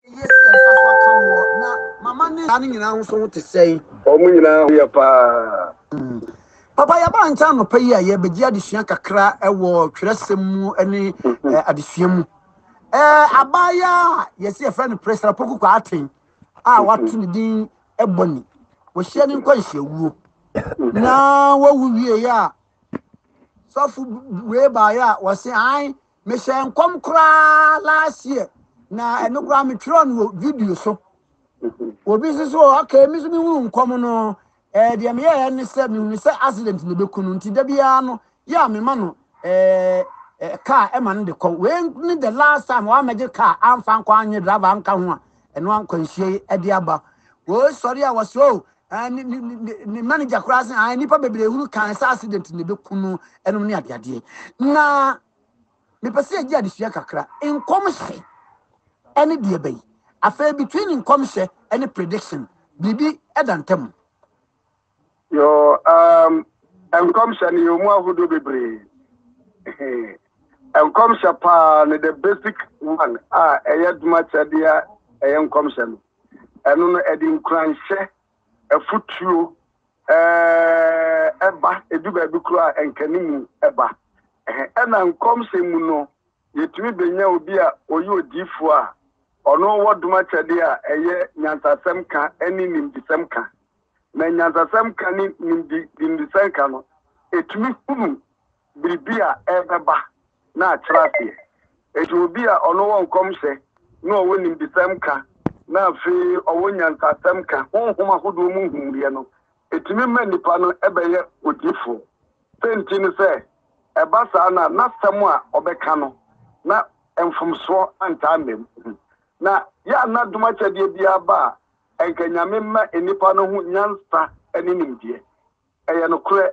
Eye sɛ yɛn nsa so aka woɔ. Na mama ne. Saa no nyinaa ho so ho te sɛn? Wɔn nyinaa ho yɛ paa. Papa, yɛaba ha nkyɛn anɔpa yi a yɛrebɛgye adesua kakra wɔ twerɛsɛm mu ne adesua mu. Abaayaa a yɛse yɛfrɛ no Presra Poku Kwarteng a wato ne din Ebony, wɔhyia ne nkwanhyia-wuo. Na wawu wieeɛ a, sɔfo wei baeɛ a wɔse ae Me hyɛɛ nkɔm koraa last year na ɛno koraa me twerɛ no wɔ video so. Obi nso so okay me nso me hunu nkɔm no ɛɛ eh, deɛ me yɛɛ ne sɛ me hunu sɛ accident na ɛbɛku no nti da biara no yɛ a me ma no ɛɛ eh, ɛɛ eh, car ɛma no de kɔ. Wei ne the last time wɔn amɛgye car anfa nkɔ anyɛ driver anka ho a ɛno ankwanhyia yi ɛde aba. Wɔsɔre a wɔsɛ o oh, Eh, ne, ne, ne, ne manager koraa sɛ ah, nnipa bebree hunu kan sɛ accident na ɛbɛku no ɛnom ne adeadeɛ na mepɛ sɛ yɛgye adesua kakra nkɔmhyɛ ɛne deɛ bɛyi afei between nkɔmhyɛ ɛne prediction biribi ɛda ntam yo um, nkɔmhyɛ no yɛ mu ahodoɔ bebree nkɔmhyɛ paa no the basic one a ɛyɛ doma kyɛdeɛ ɛyɛ nkɔmhyɛ no Ɛno no, ɛde nkuranhyɛ, afotuo, ɛɛɛ, ba. Ɛdu baabi koraa a, nkanimu ba. Ɛhɛ, ɛna nkɔmhyɛ mu no, yɛtumi bɛnya obi a ɔyɛ odiyifoɔ a ɔno wɔ dom akyɛdeɛ a ɛyɛ nyansasɛm ka ne nimdesɛm ka. na nyansasɛm ka ne nimdesɛm ka no, ɛtumi hunu biribi a ɛrebɛba na akyerɛ aseɛ. Enti obi a ɔno wɔ nkɔmhyɛ na ɔwɔ nimdesɛm ka na afei ɔwɔ nyansasɛm ka, honhom ahodoɔ mu nhunuiɛ no, ɛtumi ma nnipa no bɛyɛ odiyifoɔ. Sɛ nti ne sɛ, ɛba saa no a, n'asɛm a ɔbɛka no, na mfomsoɔ antaa mmam. Na yɛ a na dom akyɛdeɛ biara ba a, Nka Nyame mma nnipa no ho nyansa ne nimdeɛ. Ɛyɛ nokorɛ,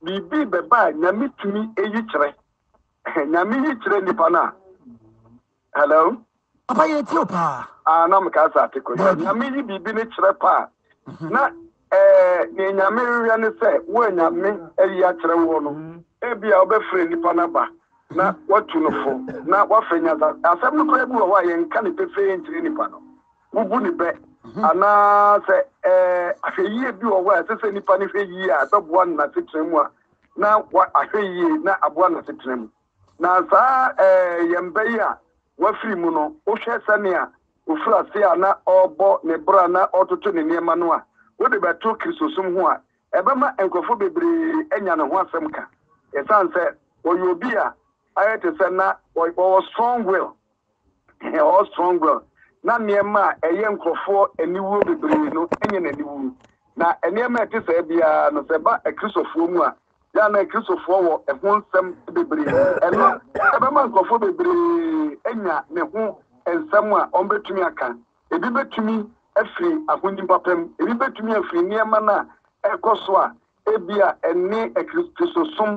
biribi bɛba a Nyame tumi yi kyerɛ. Nyame yi kyerɛ nnipa no a. Hello? Papa yɛ tie o paa. Ah, na meka sɛ ate kɔ. Nyame yi biribi no kyerɛ paa. Mhm. Na eh, ne Nyame rewɛ ne sɛ, wo a Nyame ayi akyerɛ woɔ no, mhm. ebi a wobɛfrɛ nnipa no aba na mhm. watu no fo, na wafɛ nyansa. Asɛm no koraa bi wɔ hɔ a yɛnka ne pefee nkyerɛ nnipa no. wobu no bɛ, anaasɛ ahwɛyie bi wɔ hɔ a ɛsɛ sɛ nipa no hwɛ yie a ɛbɛboa no n'asetena mu a, na wahwɛ yie na aboa n'asetena mu. Na saa yɛn bɛ yi a wafiri mu no, wohwɛ sɛnea ofiri ase a na ɔrebɔ ne bra na ɔretoto ne nneɛma no a, wode bɛto Kristosom ho a, ɛbɛma nkurɔfoɔ bebree anya ne ho asɛm ka, ɛsiane sɛ ɔyɛ obi a ayɛ te sɛ na ɔwɔ strong will. Hɛɔ Strongwell, na nneɛma a ɛyɛ nkurɔfoɔ aniwuo bebree no nyɛ n'aniwu. Na nneɛma a ɛte saa biara no, sɛ ɛba Akristofoɔ mu a, yɛ a na Akristofoɔ wɔ ɛho nsɛm bebree. Ɛno bɛma nkurɔfoɔ bebree anya ne ho nsɛm a wɔbɛtumi aka. Ebi bɛtumi afiri ahonim papa mu, ebi bɛtumi afiri nneɛma no a ɛrekɔ so a Ebia ɛne Akristosom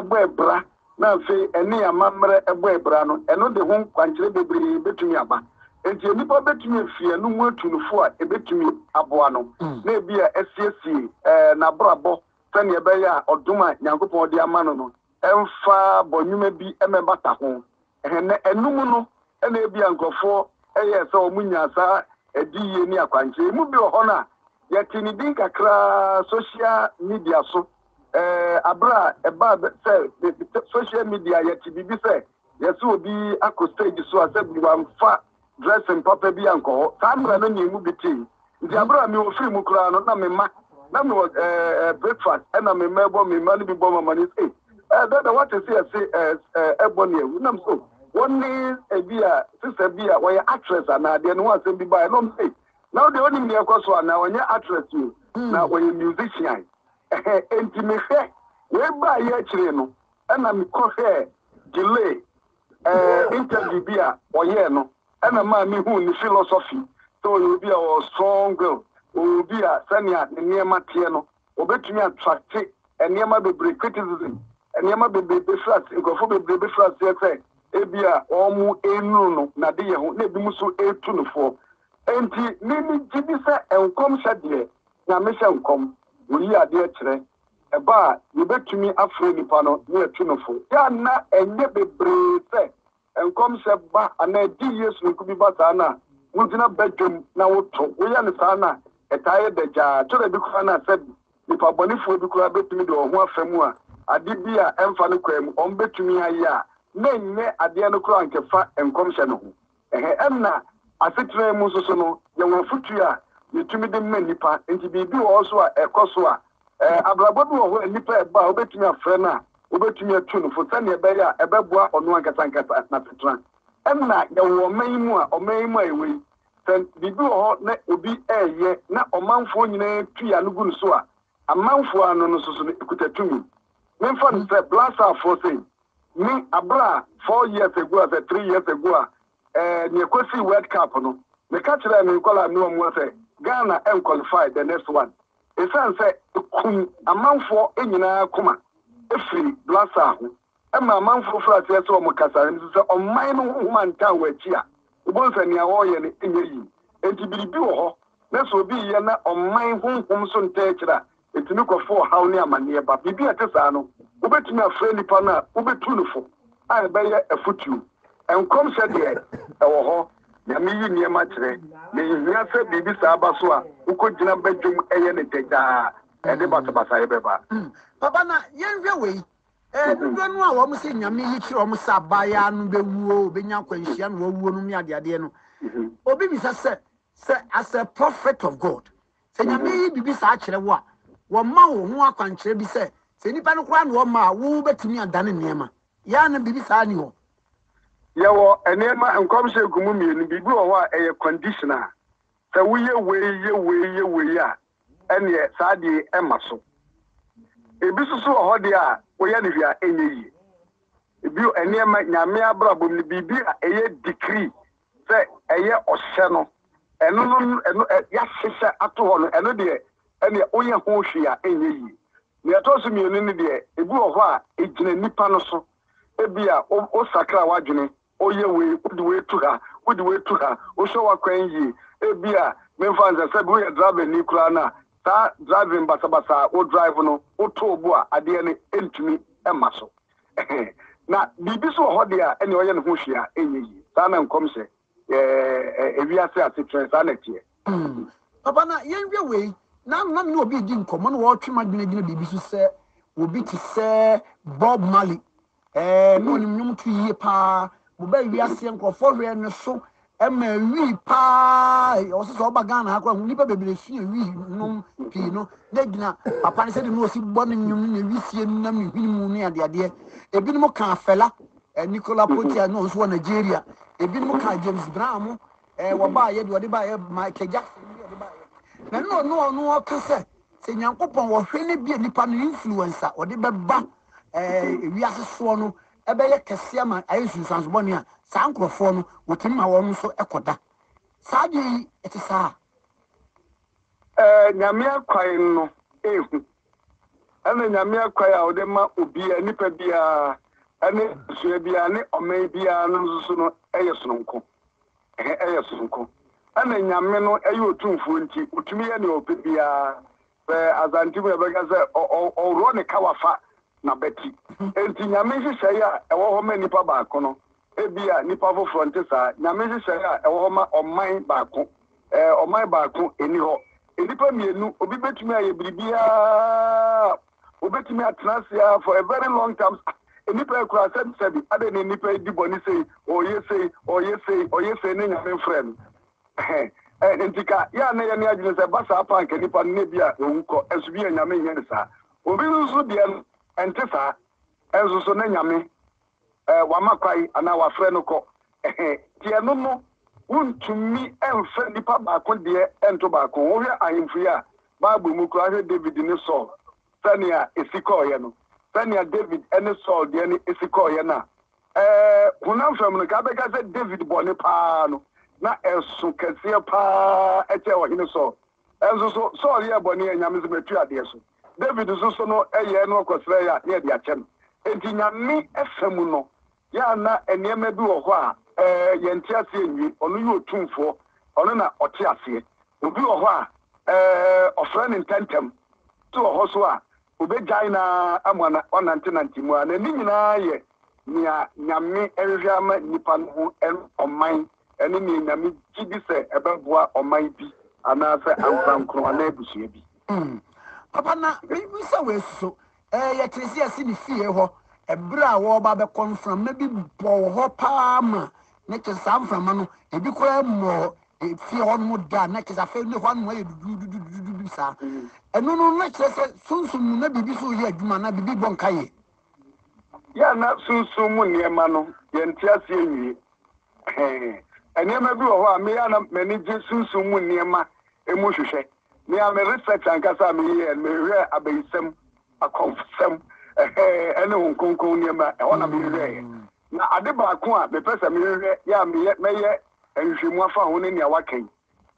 bɔ abira na afei ɛne yɛn amammerɛ bɔ abira no, ɛno de ho nkwankyerɛ bebree betumi aba. Enti nnipa betumi afi ɛno mu atu nufu a ebetumi aboa no, na ebia asiesie n'abrabɔ sɛnea ɛbɛyɛ a ɔdom a Nyankopɔn de ama no no remfa bɔnwoma bi mmɛbata ho. Hɛn enum no na ebia nkorɔfo yɛɛ sɛ wɔnyaa saa adiyie ne akwankyerɛ yi. Mu bi wɔ hɔ no a, yɛtee ne din kakra sohyia media so. Ɛɛ, berɛ a ɛbaa bɛ sɛ sohyia media yɛte biribi sɛ yɛse obi akɔ stage so a sɛ bi wamfa dressing papa bi ankɔ hɔ. Saa mmara no na emu bi te. Nti abere a mewɔ firi mu koraa no, na me mma, na mewɔ eh, eh, breakfast, ɛna me mma ɛbɔ, me mma no bi bɔ mama ne se, eh, dada wate se ɛse eh, eh, ɛbɔ ne awu. Nam so, wɔn ne ebi a sisa bi a wɔyɛ actress anaa deɛ ne ho asɛm bi baeɛ, na wɔn se, na wodeɛ wonim deɛ ɛkɔ so anaa, ɔnyɛ actress o, hmm. na wɔyɛ musician. Ɛhɛ, enti mehwɛ, wei baeɛ akyire no, ɛna mekɔhwɛɛ delay, Eh, interview bi a ɔyɛɛ no ɛna maa me huu ne philosophy sɛ ɔyɛ obi a ɔwɔ strong will, ɔwɔ obi a sɛnea ne nneɛma teɛ no ɔbɛtumi attracte nneɛma bebree, criticism, nneɛma bebree bɛfiri ase, nkurɔfoɔ bebree bɛfiri aseɛ sɛ ebi a wɔn ɛnunu no n'adeyɛ ho na ebi mu so ɛtu no foɔ. Enti me me gye di sɛ nkɔmhyɛ deɛ Nyame hyɛ nkɔm, ɔyi adeɛ kyerɛ, Ɛba a, yebetumi afrɛ nipa no na yɛatu no fo. Yɛ a na ɛnyɛ bebree sɛ nkɔmhyɛ ba anaa adiyie soronko bi ba saa no a, wogyina badwam na woto. Woyɛ no saa no a, ɛtaa yɛ dagyaa. Ɛtɔ da bi koraa no a, sɛbe nipa bɔnefoɔ bi koraa betumi de wɔn ho afa mu a, ade bi a ɛmfa no kwan mu wɔbetumi ayɛ a na ɛnyɛ adeɛ no koraa a anka ɛfa nkɔmhyɛ no ho. Ɛhɛ ɛnna asetena mu nso so no, yɛwɔ afotu a yetumi de ma nnipa. Enti biribi wɔ hɔ nso a ɛkɔ so a abrabɔ bi wɔ hɔ a nnipa ɛba a wobetumi afrɛ no a wobetumi atu no fo sɛnea ɛbɛyɛ a ɛbɛboa ɔno ankasa ankasa n'asetena. Ɛnna yɛwɔ ɔman yi mu a ɔman yi mu a yɛwɔ yi, sɛ biribi wɔ hɔ na obi reyɛ na ɔmanfoɔ nyinaa tui ano gu no so a, amanfoɔ ano no nso so no, ɛkuta tumi. Memfa no sɛ Blasaafoɔ sei, Me aber a four years ago asɛ three years ago a eh nea ekosii world cup no meka kyerɛɛ me nkɔlaa noa mua sɛ Ghana ɛnqualify the next one esiane sɛ ekum amanfoɔ nyinaa koma firi Blaster ho ɛma amanfoɔ firi aseɛ sɛ wɔn kasa nso sɛ ɔman no ho homa ntaa wɔn akyi a wobɛhu sɛ nea wɔreyɛ no nyɛ yie enti biribi wɔ hɔ na sɛ obi reyɛ na ɔman honhom so ntaa akyire a etumi kɔfa ɔhaw ne amanneɛ ba. Biribi a ɛte saa no, wobetumi afrɛ nnipa no a wobetu no fo a ɛbɛyɛ afotu. Nkɔmhyɛ deɛ, ɛwɔ hɔ. Nyame yi nneɛma kyerɛ, na enhia sɛ biribi saa ba so a wokogyina badwam yɛ no dɛ daa. Ɛde basabasayɛ bɛba. Mm, papa, na yɛnhwɛ wei. Eh, dodoɔ no a wɔn sɛ Nyame yi kyerɛ wɔn sɛ abaayaa no bɛwuo, obɛnya akwanhyia na wawuo nom ne adeadeɛ no, mhm. obi bisa sɛ, sɛ as a prophet of God, Sɛ Nyame yi biribi saa kyerɛ wo a, wɔma wo ho akwankyerɛ bi sɛ, sɛ nnipa no koraa na wɔma a, wo bɛtumi adane nneɛma. Yɛ a na biribi saa nni hɔ. Yɛwɔ nneɛma, nkɔmhyɛ gu mu mmienu, biribi wɔ hɔ a ɛyɛ conditional, sɛ woyɛ wei, yɛ wei, yɛ wei a, ɛnneɛ saa adeɛ yi ɛma so. Ebi nso so wɔ hɔ deɛ a, woyɛ no hwee a ɛnyɛ yie. Bio, nneɛma, Nyame abrabɔ mu no, biribi a ɛyɛ decree, Sɛ ɛyɛ ɔhyɛ no, ɛno no, ɛno ɛ, yɛahyehyɛ ato hɔ no, ɛno deɛ, ɛnneɛ woyɛ ho hwee a, ɛnyɛ yie. Nea ɛtɔ so mmienu no deɛ, ebi wɔ hɔ a, egyina nnipa no so. Ebia wo, wosakra w'adwene, woyɛ wei, wode wei tu ha, wode wei tu ha, wohwɛ w'akwan yie. Ebia, memfa nsɛ, sɛbi woyɛ drabani koraa no a, saa driving basabasa a wo drive no, wotɔ bo a, adeɛ no ntumi mma so. Na biribi nso wɔ hɔ deɛ a, ɛnneɛ ɔyɛ ne ho hwee a, ɛnyɛ yie. Saa na nkɔm sɛ ɛɛ ewiase asetrɛ, saa na ɛteɛ. Mm. Papa, na yɛnhwɛ wei. Na na me ne obi redi nkɔmmɔ na wɔretwe m'adwene agyina biribi so sɛ obi te sɛ Bob Marley. Ɛɛ, na ɔnim nnwom to yie paa. Mobaa wiase nkurɔfoɔ hwɛɛ ne so Ɛma ɛwii paa ɔwɔ sɛ sɛ ɔba Ghana ha koraa ho nnipa bebree fi ɛwii nom pii no na gyina papa no sɛde no ɔsi bɔ ne nnwom ne wisie no nam ne hwene mu ne adeadeɛ ebinom kaa Fela eh, Nicola Potia na ɔnso wɔ Nigeria ebinom kaa James Brown mo eh, wɔbaayɛ deɛ ɔde baayɛ Michael Jackson deɛ ɔde baayɛ na no ɔno ɔno ɔka sɛ sɛ Nyankopɔn wɔhwɛ no bi a nipa no influence a ɔde bɛba eh, wiase soɔ no bɛyɛ kɛse ama ayɛ nsunsuanso bɔne a saa nkurɔfoɔ no wɔtumi ma wɔn nso kɔda saa adeɛ yi te saa. Nyame akwan no ehu ɛna Nyame akwan a ɔde ma obiara nipa biara ɛne abusua biara ne ɔman biara no nso so no ɛyɛ sononko ɛyɛ sononko ɛna Nyame no ɛyɛ otumfuo nti otumi yɛ nea ɔpɛ biara Sɛ Asante mu yɛbɛka sɛ ɔworɔ ne kawa fa n'abati. Enti Nyame nhyehyɛe a ɛwɔ hɔ ma nipa baako no, ebia nipa foforɔ nte saa. Nyame nhyehyɛe a ɛwɔ hɔ ma ɔman baako, ɛɛ, ɔman baako ɛni hɔ. Nnipa mmienu, obi bɛtumi ayɛ biribiara, obɛtumi atena ase ara for a very long time. Nnipa yi koraa sɛbisɛbi, adɛn na nnipa yi di bɔne sei, ɔyɛ sei, ɔyɛ sei, ɔyɛ sei, ne Nyame mfrɛ no. Ɛhɛn, ntsi ka yɛ a nna yɛnee adwen dɛ sɛ ɛba saa mpo a anka nyimpa no nna bi a oewu kɔ, nso bi a Nyame nnyɛ no saa. Obi no so deɛ no, ɛnte saa, nso so na Nyame eh, Wama kwan anaa Wafrɛ no kɔ. Ɛhɛn, ntsi ɛno no, wonntumi mmfa nyimpa baako deɛ nnto baako ho. Wohwɛ ahemfo yi a, Bible mu koraa, hwɛ David ne Saul, sɛnea esi kɔɔeɛ no, sɛnea David ne Saul deɛ no si kɔɔeɛ no a, Ɛɛ, honam fam no, nka yɛbɛka sɛ David bɔne paa no, na ɛso kɛseɛ paa kyɛɛ Ɔhene Saul. Nso so, Saul yɛɛ bɔne a Nyame se matua adeɛ so. David nso so no, ɛyɛɛ na ɔkɔsrɛɛ a, na yɛde akyɛ no. Enti Nyame fa mu no, yɛ a na nneɛma bi wɔ hɔ a, ɛɛ, yɛnte aseɛ nwie. Ɔno yɛ Otumfoɔ, Ɔno na Ɔte aseɛ. Obi wɔ hɔ a, ɛɛ, Ɔfrɛ no ntɛntɛm. Obi wɔ hɔ nso a, Obegyae no ara ama no ɔnantenante mu ara, na ne nyinaa yɛ nea Nyame hwehwɛ ama nnipa no ho ɔman ne nea Nyame gye di sɛ ɛbɛboa ɔman bi anaasɛ ankorankoro anaa abusua bi. Mm, Papa, na mebisa wei nso. Ɛɛ, yɛtee sɛ yɛasi ne fie hɔ bere a wɔreba abɛkɔ no, mframa bi bɔɔ hɔ paa ma Na kyerɛ sɛ saa mframa no, ebi koraa mmɔɔ fie hɔnom da a, na kyerɛ sɛ afei ne hɔnom ayɛ dudududududu saa. Ɛno no, na kyerɛ sɛ sunsum mu na biribi so reyɛ adwuma anaa biribi rebɔ nkaeɛ. Yɛ a na sunsum mu nneɛma no, yɛnte aseɛ nwie. Nneɛma bi wɔ hɔ a, me a na m'ani gye sunsum mu nneɛma mu hwehwɛ. Me a me research ankasa a meyɛɛ no, mehwehwɛɛ abayisɛm, akɔmfosɛm, ɛne Honhom Kronkron nneɛma, ɛhɔ na mehwehwɛeɛ. Na ade baako a mepɛ sɛ mehwehwɛ yɛ a meyɛ mɛyɛ nhwehwɛmu afa ho ne nea woaka yi,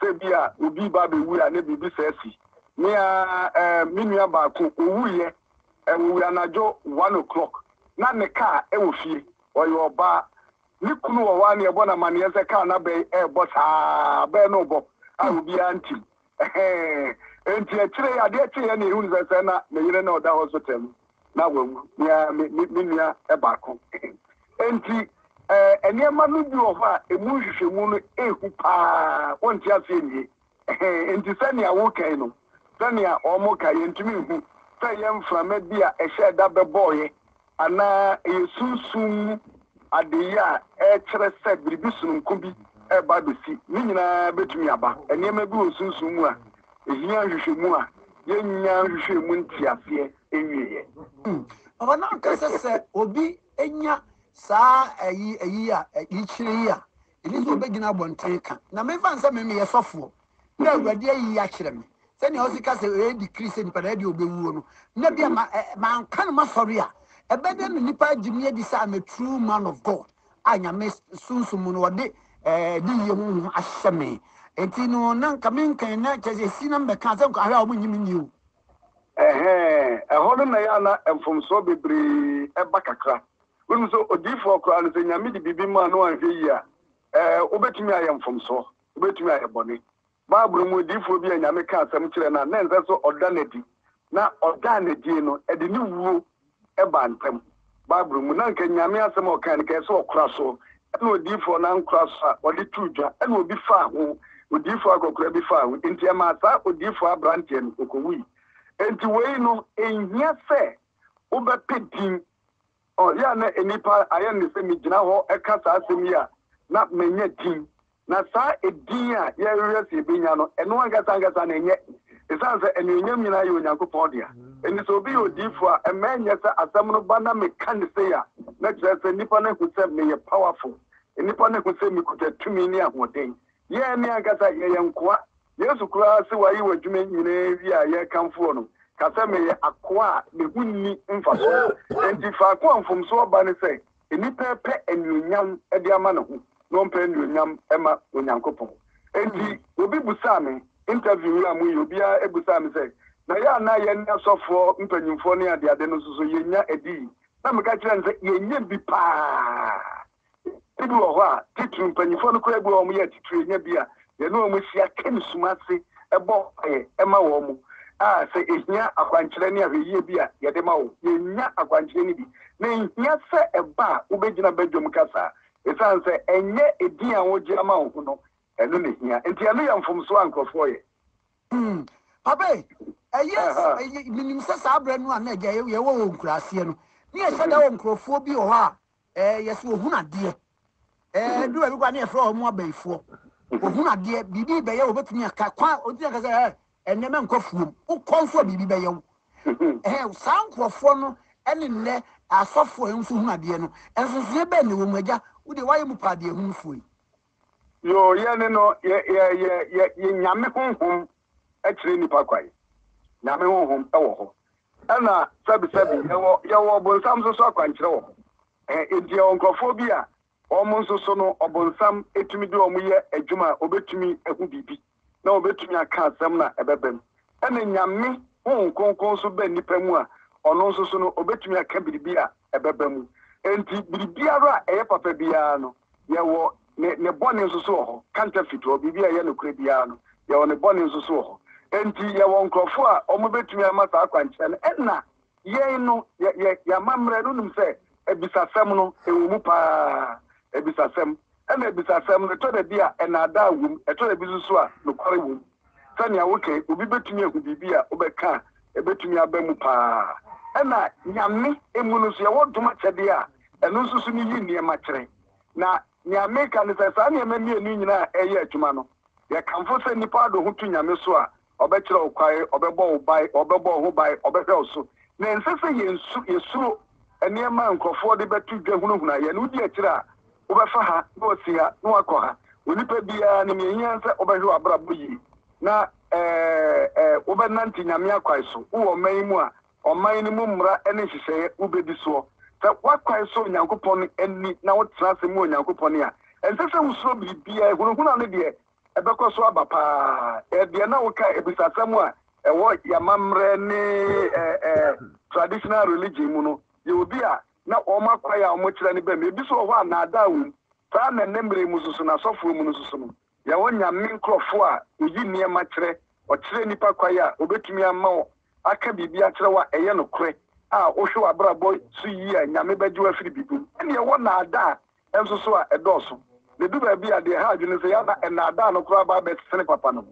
sɛ ebia obi ba abewu a na biribi saa asi. Me ara eh, me nua baako, owuiɛ, eh, owui anadwo one o'clock, na ne kaa wɔ fie, ɔyɛ ɔbaa, ne kunu wɔ hɔ ara na yɛbɔ no amanneɛ sɛ kaa no abɛn ɛrebɔ saa, abɛn no rebɔ a obiara ntim. Ɛhɛɛ. Enti akyire yi, adeɛ kyeeɛ na yɛhunu sɛ sɛ na me yere na ɔda hospital mu na wawu, me ara me, me, me nua baako. Enti ɛɛ, nneɛma no bi wɔ hɔ a ɛmu nhwehwɛmu no ɛhu paa, wonte aseɛ nwie. Ɛhɛɛ. Enti sɛnea wokae no, sɛnea wɔkae, yɛntumi nhu sɛ ɛyɛ mframa bi a ɛhyɛɛ da bɛbɔeɛ Anaa ɛyɛ sunsum mu adeyɛ a ɛkyerɛ sɛ biribi sononko bi reba abesi. Ne nyinaa betumi aba. Nneɛma bi wɔ sunsum mu a ehia nhwehwɛmu a yennya nhwehwɛɛ mu nteaseɛ nwieeɛ. Papa na ɔka sɛ sɛ obi nya saa ayi ayi a ɛkyerɛ yi a, Ɛnyɛ sɛ ɔbɛgyina abɔnten ka, na me mfa nsɛ me meyɛ sɔfoɔ, na Awurade ayi yi akyerɛ me, sɛnea ɔsi ka sɛ ɔyɛ dikri sɛ nipa na ɛdeɛ ɔbɛwuo no, na bia ma ɛ, manka no masɔre a, ɛbɛdɛ na nipa agye me adi sɛ I'm a true man of God, a Nyame Sunsum mu no ɔde ɛɛ adiyie honhom ahyɛ me, enti no na nka me nka yi na kyerɛ sɛ ɛsi na me bɛka sɛ nka ahwɛ a wɔn nyi me nni o. Ɛhɛɛ, ɛhɔ no na ɛyɛ a na mfomsoɔ bebree ɛba kakra, Wonim sɛ odiyifoɔ koraa no, sɛ Nyame de biribi maa no a anhwɛ yie a, ɛɛ, wobɛtumi ayɛ mfomsoɔ, wobɛtumi ayɛ bɔne. Bible mu odiyifoɔ bi a Nyame kaa asɛm kyerɛɛ no a na ɛnsɛ sɛ ɔda no adi, na ɔdaa no adie no, ɛde ne wuo baa ntam. Bible mu, na anka Nyame asɛm a ɔkae no, anka ɛsɛ sɛ ɔkora so, ɛna odiyifoɔ no ankora so a, wɔde too dwa, ɛna obi faa ho, odiyifoɔ akɔkora bi faa ho, enti ɛmaa saa odiyifoɔ aberanteɛ no, ɔkɔwui. Enti wei no, ɛnhia sɛ wobɛpɛ din Oh, yeah, na nnipa ayɛ no sɛ megyina hɔ ka saa asɛm yi a, na manya din. Na saa edin a yɛrehwehwɛ sɛ yebenya no, ɛno ankasa ankasa no, ɛnyɛ, esiane sɛ anuonyam nyinaa yɛ Onyankopɔn dea. Enti sɛ obi yɛ odiyifo a, ɛmma ɛnyɛ sɛ asɛm no ba na meka no sei a, na kyerɛ sɛ nnipa no ahu sɛ meyɛ powerful, nnipa no ahu sɛ mikuta tumi ne ahoɔden. Yɛn ankasa yɛyɛ nkoa Yesu koraa se waye w'adwuma nyinaa awie a yɛrekamfo wɔ no, ka sɛ, Meyɛ akoa a me ho nni mfaso. Enti faako a mfomsoɔ ba ne sɛ nnipa repɛ anuonyam de ama ne ho na ɔmpɛ anuonyam mma Onyankopɔn. Enti obi busaa me, interview yi a moyɛ obiara busaa me sɛ, Na yɛ a na yɛne asɔfoɔ mpanyimfoɔ ne adeade no nso so yɛnya adii? Na meka kyerɛɛ no sɛ, Yɛnya bi paa. Bi wɔ hɔ a, titiriw mpanyimfo no koraa, bi wɔ hɔ a wɔyɛ atitiriw, enya bi a yɛne wɔn hyia ka nniso ase bɔ mpae ma wɔn a sɛ ehia akwankyerɛ ne ahwɛyiye bi a, yɛde ma wɔn. Yennya akwankyerɛ no bi, na enhia sɛ ɛba a wubegyina badwam kasa a, esiane sɛ ɛnyɛ edin a wogye ama wo ho no, ɛno na ehia. Enti ɛno yɛ mfomso a nkurɔfo reyɛ. Hmm. Papa ei, ɛyɛ s- Aha. ɛyɛ- menim sɛ saa berɛ no a na agya yɛ- yɛwɔ wɔ nkuraaseɛ no ne yɛhyɛ da wɔ nkurɔfoɔ bi wɔ hɔ a Ɛɛ yɛse wɔhunu adeɛ. Ɛɛ ɛduru baabi koraa ne yɛfrɛ wɔn abayifoɔ. Wɔhunu adeɛ, biribi rebɛyɛ wo, wɔbɛtumi aka. Kwan a wɔtumi aka sɛ ɛɛ ɛnnɛ mɛnkɔ afuom, wokɔ nso a biribi bɛyɛ wo. Ɛhɛ saa nkurɔfoɔ no ne nnɛ asɔfoɔ a wɔn nso hunu adeɛ no, nsonsonoeɛ bɛn na ɛwɔ mu? Agya, wo deɛ woayɛ mu paa deɛhunufoɔ yi. Yoo, yɛne no yɛ yɛ yɛ yɛ yɛ Nyame honhom kyerɛ nnipa kwan. Nyame honhom wɔ hɔ. Ɛna sɛbesɛbe yɛwɔ yɛwɔ ɔbonsam nso so akwankyerɛ wɔ hɔ. Ɛhɛ enti yɛwɔ nkurɔfoɔ bi a wɔn nso so no ɔbonsam tumi de wɔn yɛ adwuma a wɔbɛtumi ahu biribi na wɔbɛtumi aka asɛm no a ɛbɛba mu. Ɛna Nyame Honhom Kronkron nso ba nnipa mu a ɔno nso so no ɔbɛtumi aka biribi a ɛbɛba mu. Enti biribiara a ɛyɛ papa biara no Yɛwɔ ne ne bɔne nso so wɔ hɔ, counterfeit, wɔ biribi a ɛyɛ nokorɛ biara no, yɛwɔ ne bɔne nso so wɔ hɔ. Enti yɛwɔ nkorɔfoɔ a wɔbɛtumi ama saa akwankyerɛ no, ɛna yɛn no, yɛ, yɛ, yɛn amammerɛ no, wonim sɛ abisasɛm no, ɛwɔ mu pa ara, abisasɛm. Ɛna abisasɛm no, ɛtɔ da bi a, ɛnaadaa wɔ mu, ɛtɔ da bi nso so a, nokware wɔ mu. sɛnea woka yi, obi betumi ahu biribi a wobɛka a ebetumi aba mu paa. Ɛnna Nyame mu no nso, yɛwɔ dom akyɛde a ɛno nso so no yi nneɛma kyerɛ. Na nea meka ne sɛ, saa nneɛma mmienu yi nyinaa a ɛreyɛ adwuma no, yɛkamfo sɛ nnipa ade ho tu Nyame so a, ɔbɛkyerɛ wo kwan, ɔbɛbɔ wo ban, ɔbɛbɔ wo ho ban, ɔbɛhwɛ wo so. Na ɛnsɛ sɛ yɛsuro nneɛma a nkurɔfoɔ de bɛto dwa hunahuna yɛn, wodi akyire a, Wobɛfa ha, na woafi ha, na woakɔ ha. Onipa biara nim nea ehia ne sɛ wobɛhwɛ w'abrabɔ yiye, na wobɛnante Nyame akwan so. Wowɔ ɔman yi mu a, ɔman no mu mmara ne nhyehyɛe wubedi soɔ. Sɛ w'akwan sɔ Onyankopɔn ani na wotena ase mu Onyankopɔn a, ɛnsɛ sɛ wusuro biribiara. Ehunahuna no deɛ, ɛbɛkɔ so aba paa. Yɛ deɛ na woka abisasɛm a ɛwɔ yɛn amammerɛ ne traditional religion mu no. Yɛ obi a na wɔn akwan a wɔkyerɛ no bɛ mu. Ebi nso wɔ hɔ a, nnaadaa wom. Saa ara na nnɛ mmere yi mu nso so no, asɔfoɔ mu no nso so no, yɛwɔ Nyame nkurɔfoɔ a wɔyi nneɛma kyerɛ, wɔkyerɛ nnipa kwan a wɔbɛtumi ama wɔ aka biribi akyerɛ wo a ɛyɛ nokorɛ a wohwɛ w'abrabɔ so yie a, Nyame bɛgye wo afiri biribi mu. Ɛnneɛ ɛwɔ nnaadaa nso so a ɛdɔɔso. Na edu baabi a, deɛ ɛha adwene ne sɛ, yɛn ara na nnaadaa no koraa ba abɛsene papa no.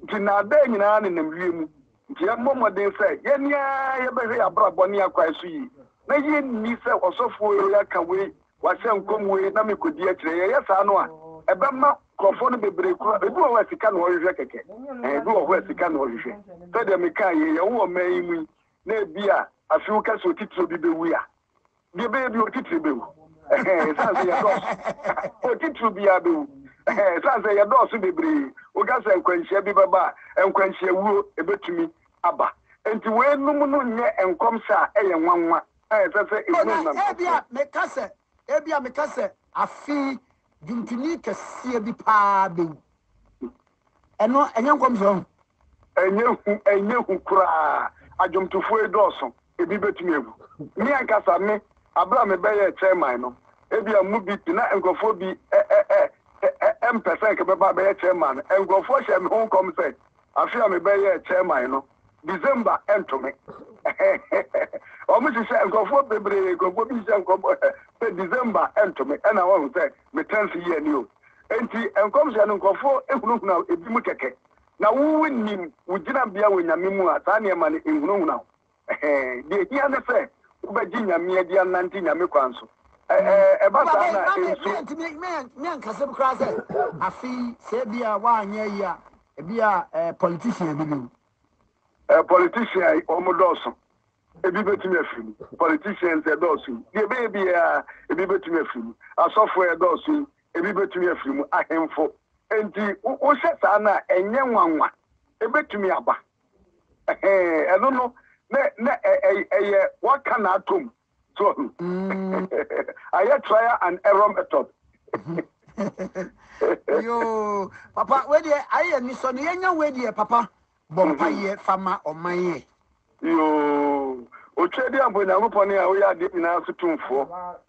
Enti nnaadaa nyinaa nenam wiem. Enti yɛmmɔ mmɔden sɛ yɛn ara yɛbɛhwɛ yɛn abrabɔ ne yɛn akwan so yie, na yenni sɛ, Ɔsɔfoɔ wei aka wei, wahyɛ nkɔm wei, na mekɔdi akyire. Yɛyɛ saa no a, ɛbɛma nkurɔfoɔ no bebree kura. Ebi wɔ hɔ a, sika na wɔhwehwɛ kɛkɛ. Ɛɛ, ebi wɔ hɔ a, sika na wɔhwehwɛ. Sɛdeɛ mekaeɛ, yɛn ho wɔ ɔman yi mu yi, na ebia afe kɛseɛ otitire bi bɛwu a, Deɛ ɛbɛyɛ bi otitiri bɛwu. Ɛsan sɛ yɛdɔɔso. Otitiri biara bɛwu. Ɛsan sɛ yɛdɔɔso bebree. Woka sɛ nkwanhyia bi bɛba a, nkwanhyia wuo ɛbɛtumi aba. Nti weinom no nyɛ nkɔmhyɛ a ɛyɛ nwanwa a ɛsɛ sɛ ɛhunu nkurɔfoɔ. Ɛna ebia meka sɛ, ebia meka sɛ, afei dwomtoni kɛseɛ bi paa bɛwu. Ɛno ɛnyɛ nkɔmhyɛ ɔho. Ɛnyɛ hu ɛnyɛ hu koraa adwomtofoɔ yi dɔɔso ebi bɛtumi agu me ankasa me aberɛ a mebɛyɛɛ chairman no ebia mo bi te na nkurɔfoɔ bi ɛ ɛ ɛ ɛ ɛ mpɛ sɛ nka bɛba abɛyɛ chairman no nkurɔfoɔ hyɛɛ me ho nkɔm sɛ afe a mebɛyɛɛ chairman no December ɛnto me wɔn hyehyɛ nkurɔfoɔ bebree nkurɔfoɔ bi hyehyɛ nkɔm sɛ December ɛnto me ɛna wɔn sɛ me tenth year ni o. Enti nkɔmhyɛ no nkurɔfoɔ hunahunaw ebi mu kɛkɛ, na wo wonim wo gyinabea wɔ Nyame mu a, saa nneɛma no nhunahuna wo. Ɛhɛɛ, deɛ ehia ne sɛ wobɛgye Nyame adi anante Nyame kwan so. Ɛ, ɛ, ɛba saa no a, ɛnso. Papa, me, me antumi, me, me ankasa bi koraa sɛ, afe yi, sɛ ebia woanyɛ ayi a, ebia, eh, politician bi bi. Eh, politician, wɔn dɔɔso. ebi betumi afiri mu. Politicians ɛdɔɔso yi, deɛ ɛbɛyɛ biara ebi betumi afiri mu. Asɔfo ɛdɔɔso yi, ebi betumi afiri mu. Ahemfo. Enti wohyɛ saa no a, ɛnyɛ nwanwa. Ebetumi aba. Ɛhɛn, ɛno no, na na ɛyɛ waka na atom. So ahu. Mm. Ayɛ trial and error method. Yoo, papa, wei deɛ ayɛ anisɔ no yɛnya wei deɛ papa. Bɔ mpaeɛ fa ma ɔman ɛ. Yoo! Otweaduamfo Nyankopɔn a woyɛ adeɛ nyinaa so tumfoɔ,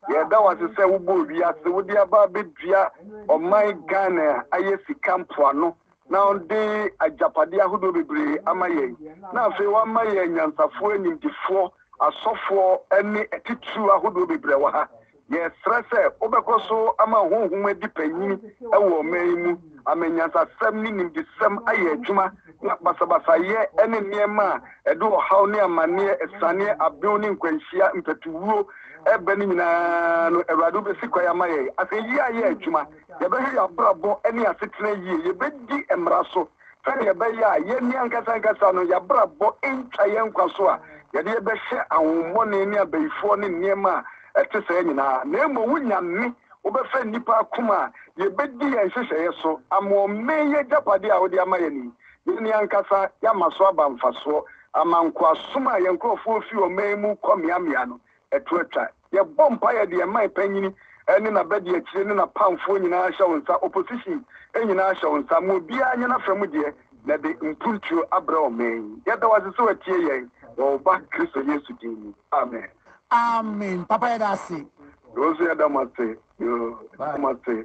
yɛda wo ase sɛ wobɔɔ wiase, wode aba abɛdua ɔman Ghana a ayɛ sika mpoano na ɔde agyapadeɛ ahodoɔ bebree ama yɛn na afei woama yɛn anyansafoɔ, animdefoɔ, asɔfoɔ ne atitiriw ahodoɔ bebree wɔ ha. Yɛsrɛ sɛ wobɛkɔ so ama honhom adi panyin wɔ ɔman yi mu, ama nyansasɛm ne nimdesɛm ayɛ adwuma, na basabasayɛ ne nneɛma a ɛde ɔhaw ne amanneɛ, asianeɛ, abew ne nkwanhyia, mpatuwuo, reba no nyinaa no, Awurade, wobɛsi kwan ama yɛn. Asɛyie ayɛ adwuma. Yɛbɛhwɛ yɛn abrabɔ ne yɛn asetena yie. Yɛbɛdi mmara so. sɛnea ɛbɛyɛ a yɛn ankasa ankasa no, yɛn abrabɔ ntwa yɛn nkwa so a yɛde yɛbɛhyɛ ahohommɔne ne abayifoɔ ne nneɛma a ɛte saa nyinaa, na mmom wonya nne, wobɛfa nnipa akoma a yɛbɛdi yɛn nhyehyɛeɛ so ama ɔman yi agyapadeɛ a wode ama yɛn yi, yɛn ankasa yɛama so aba mfasoɔ ama nkoasom a yɛn nkurɔfoɔ refi ɔman mu rekɔ mmeammea no, ɛto atwa. Yɛbɔ mpaeɛ de ɛman panyini ne n'abadiakyire ne n'apamfoɔ nyinaa hyɛ wo nsa, opposition nyinaa hyɛ wo nsa, ma obiara nyɛ n'afa mu deɛ na ɛde mpuntuo abrɛ ɔman yi. Yɛda wo ase sɛ watie yɛn wɔ wo ba Kristo Yesu din mu. Amen. Amen papa yɛda ase. Yɛnso yɛda mo ase yoo yɛda mo ase.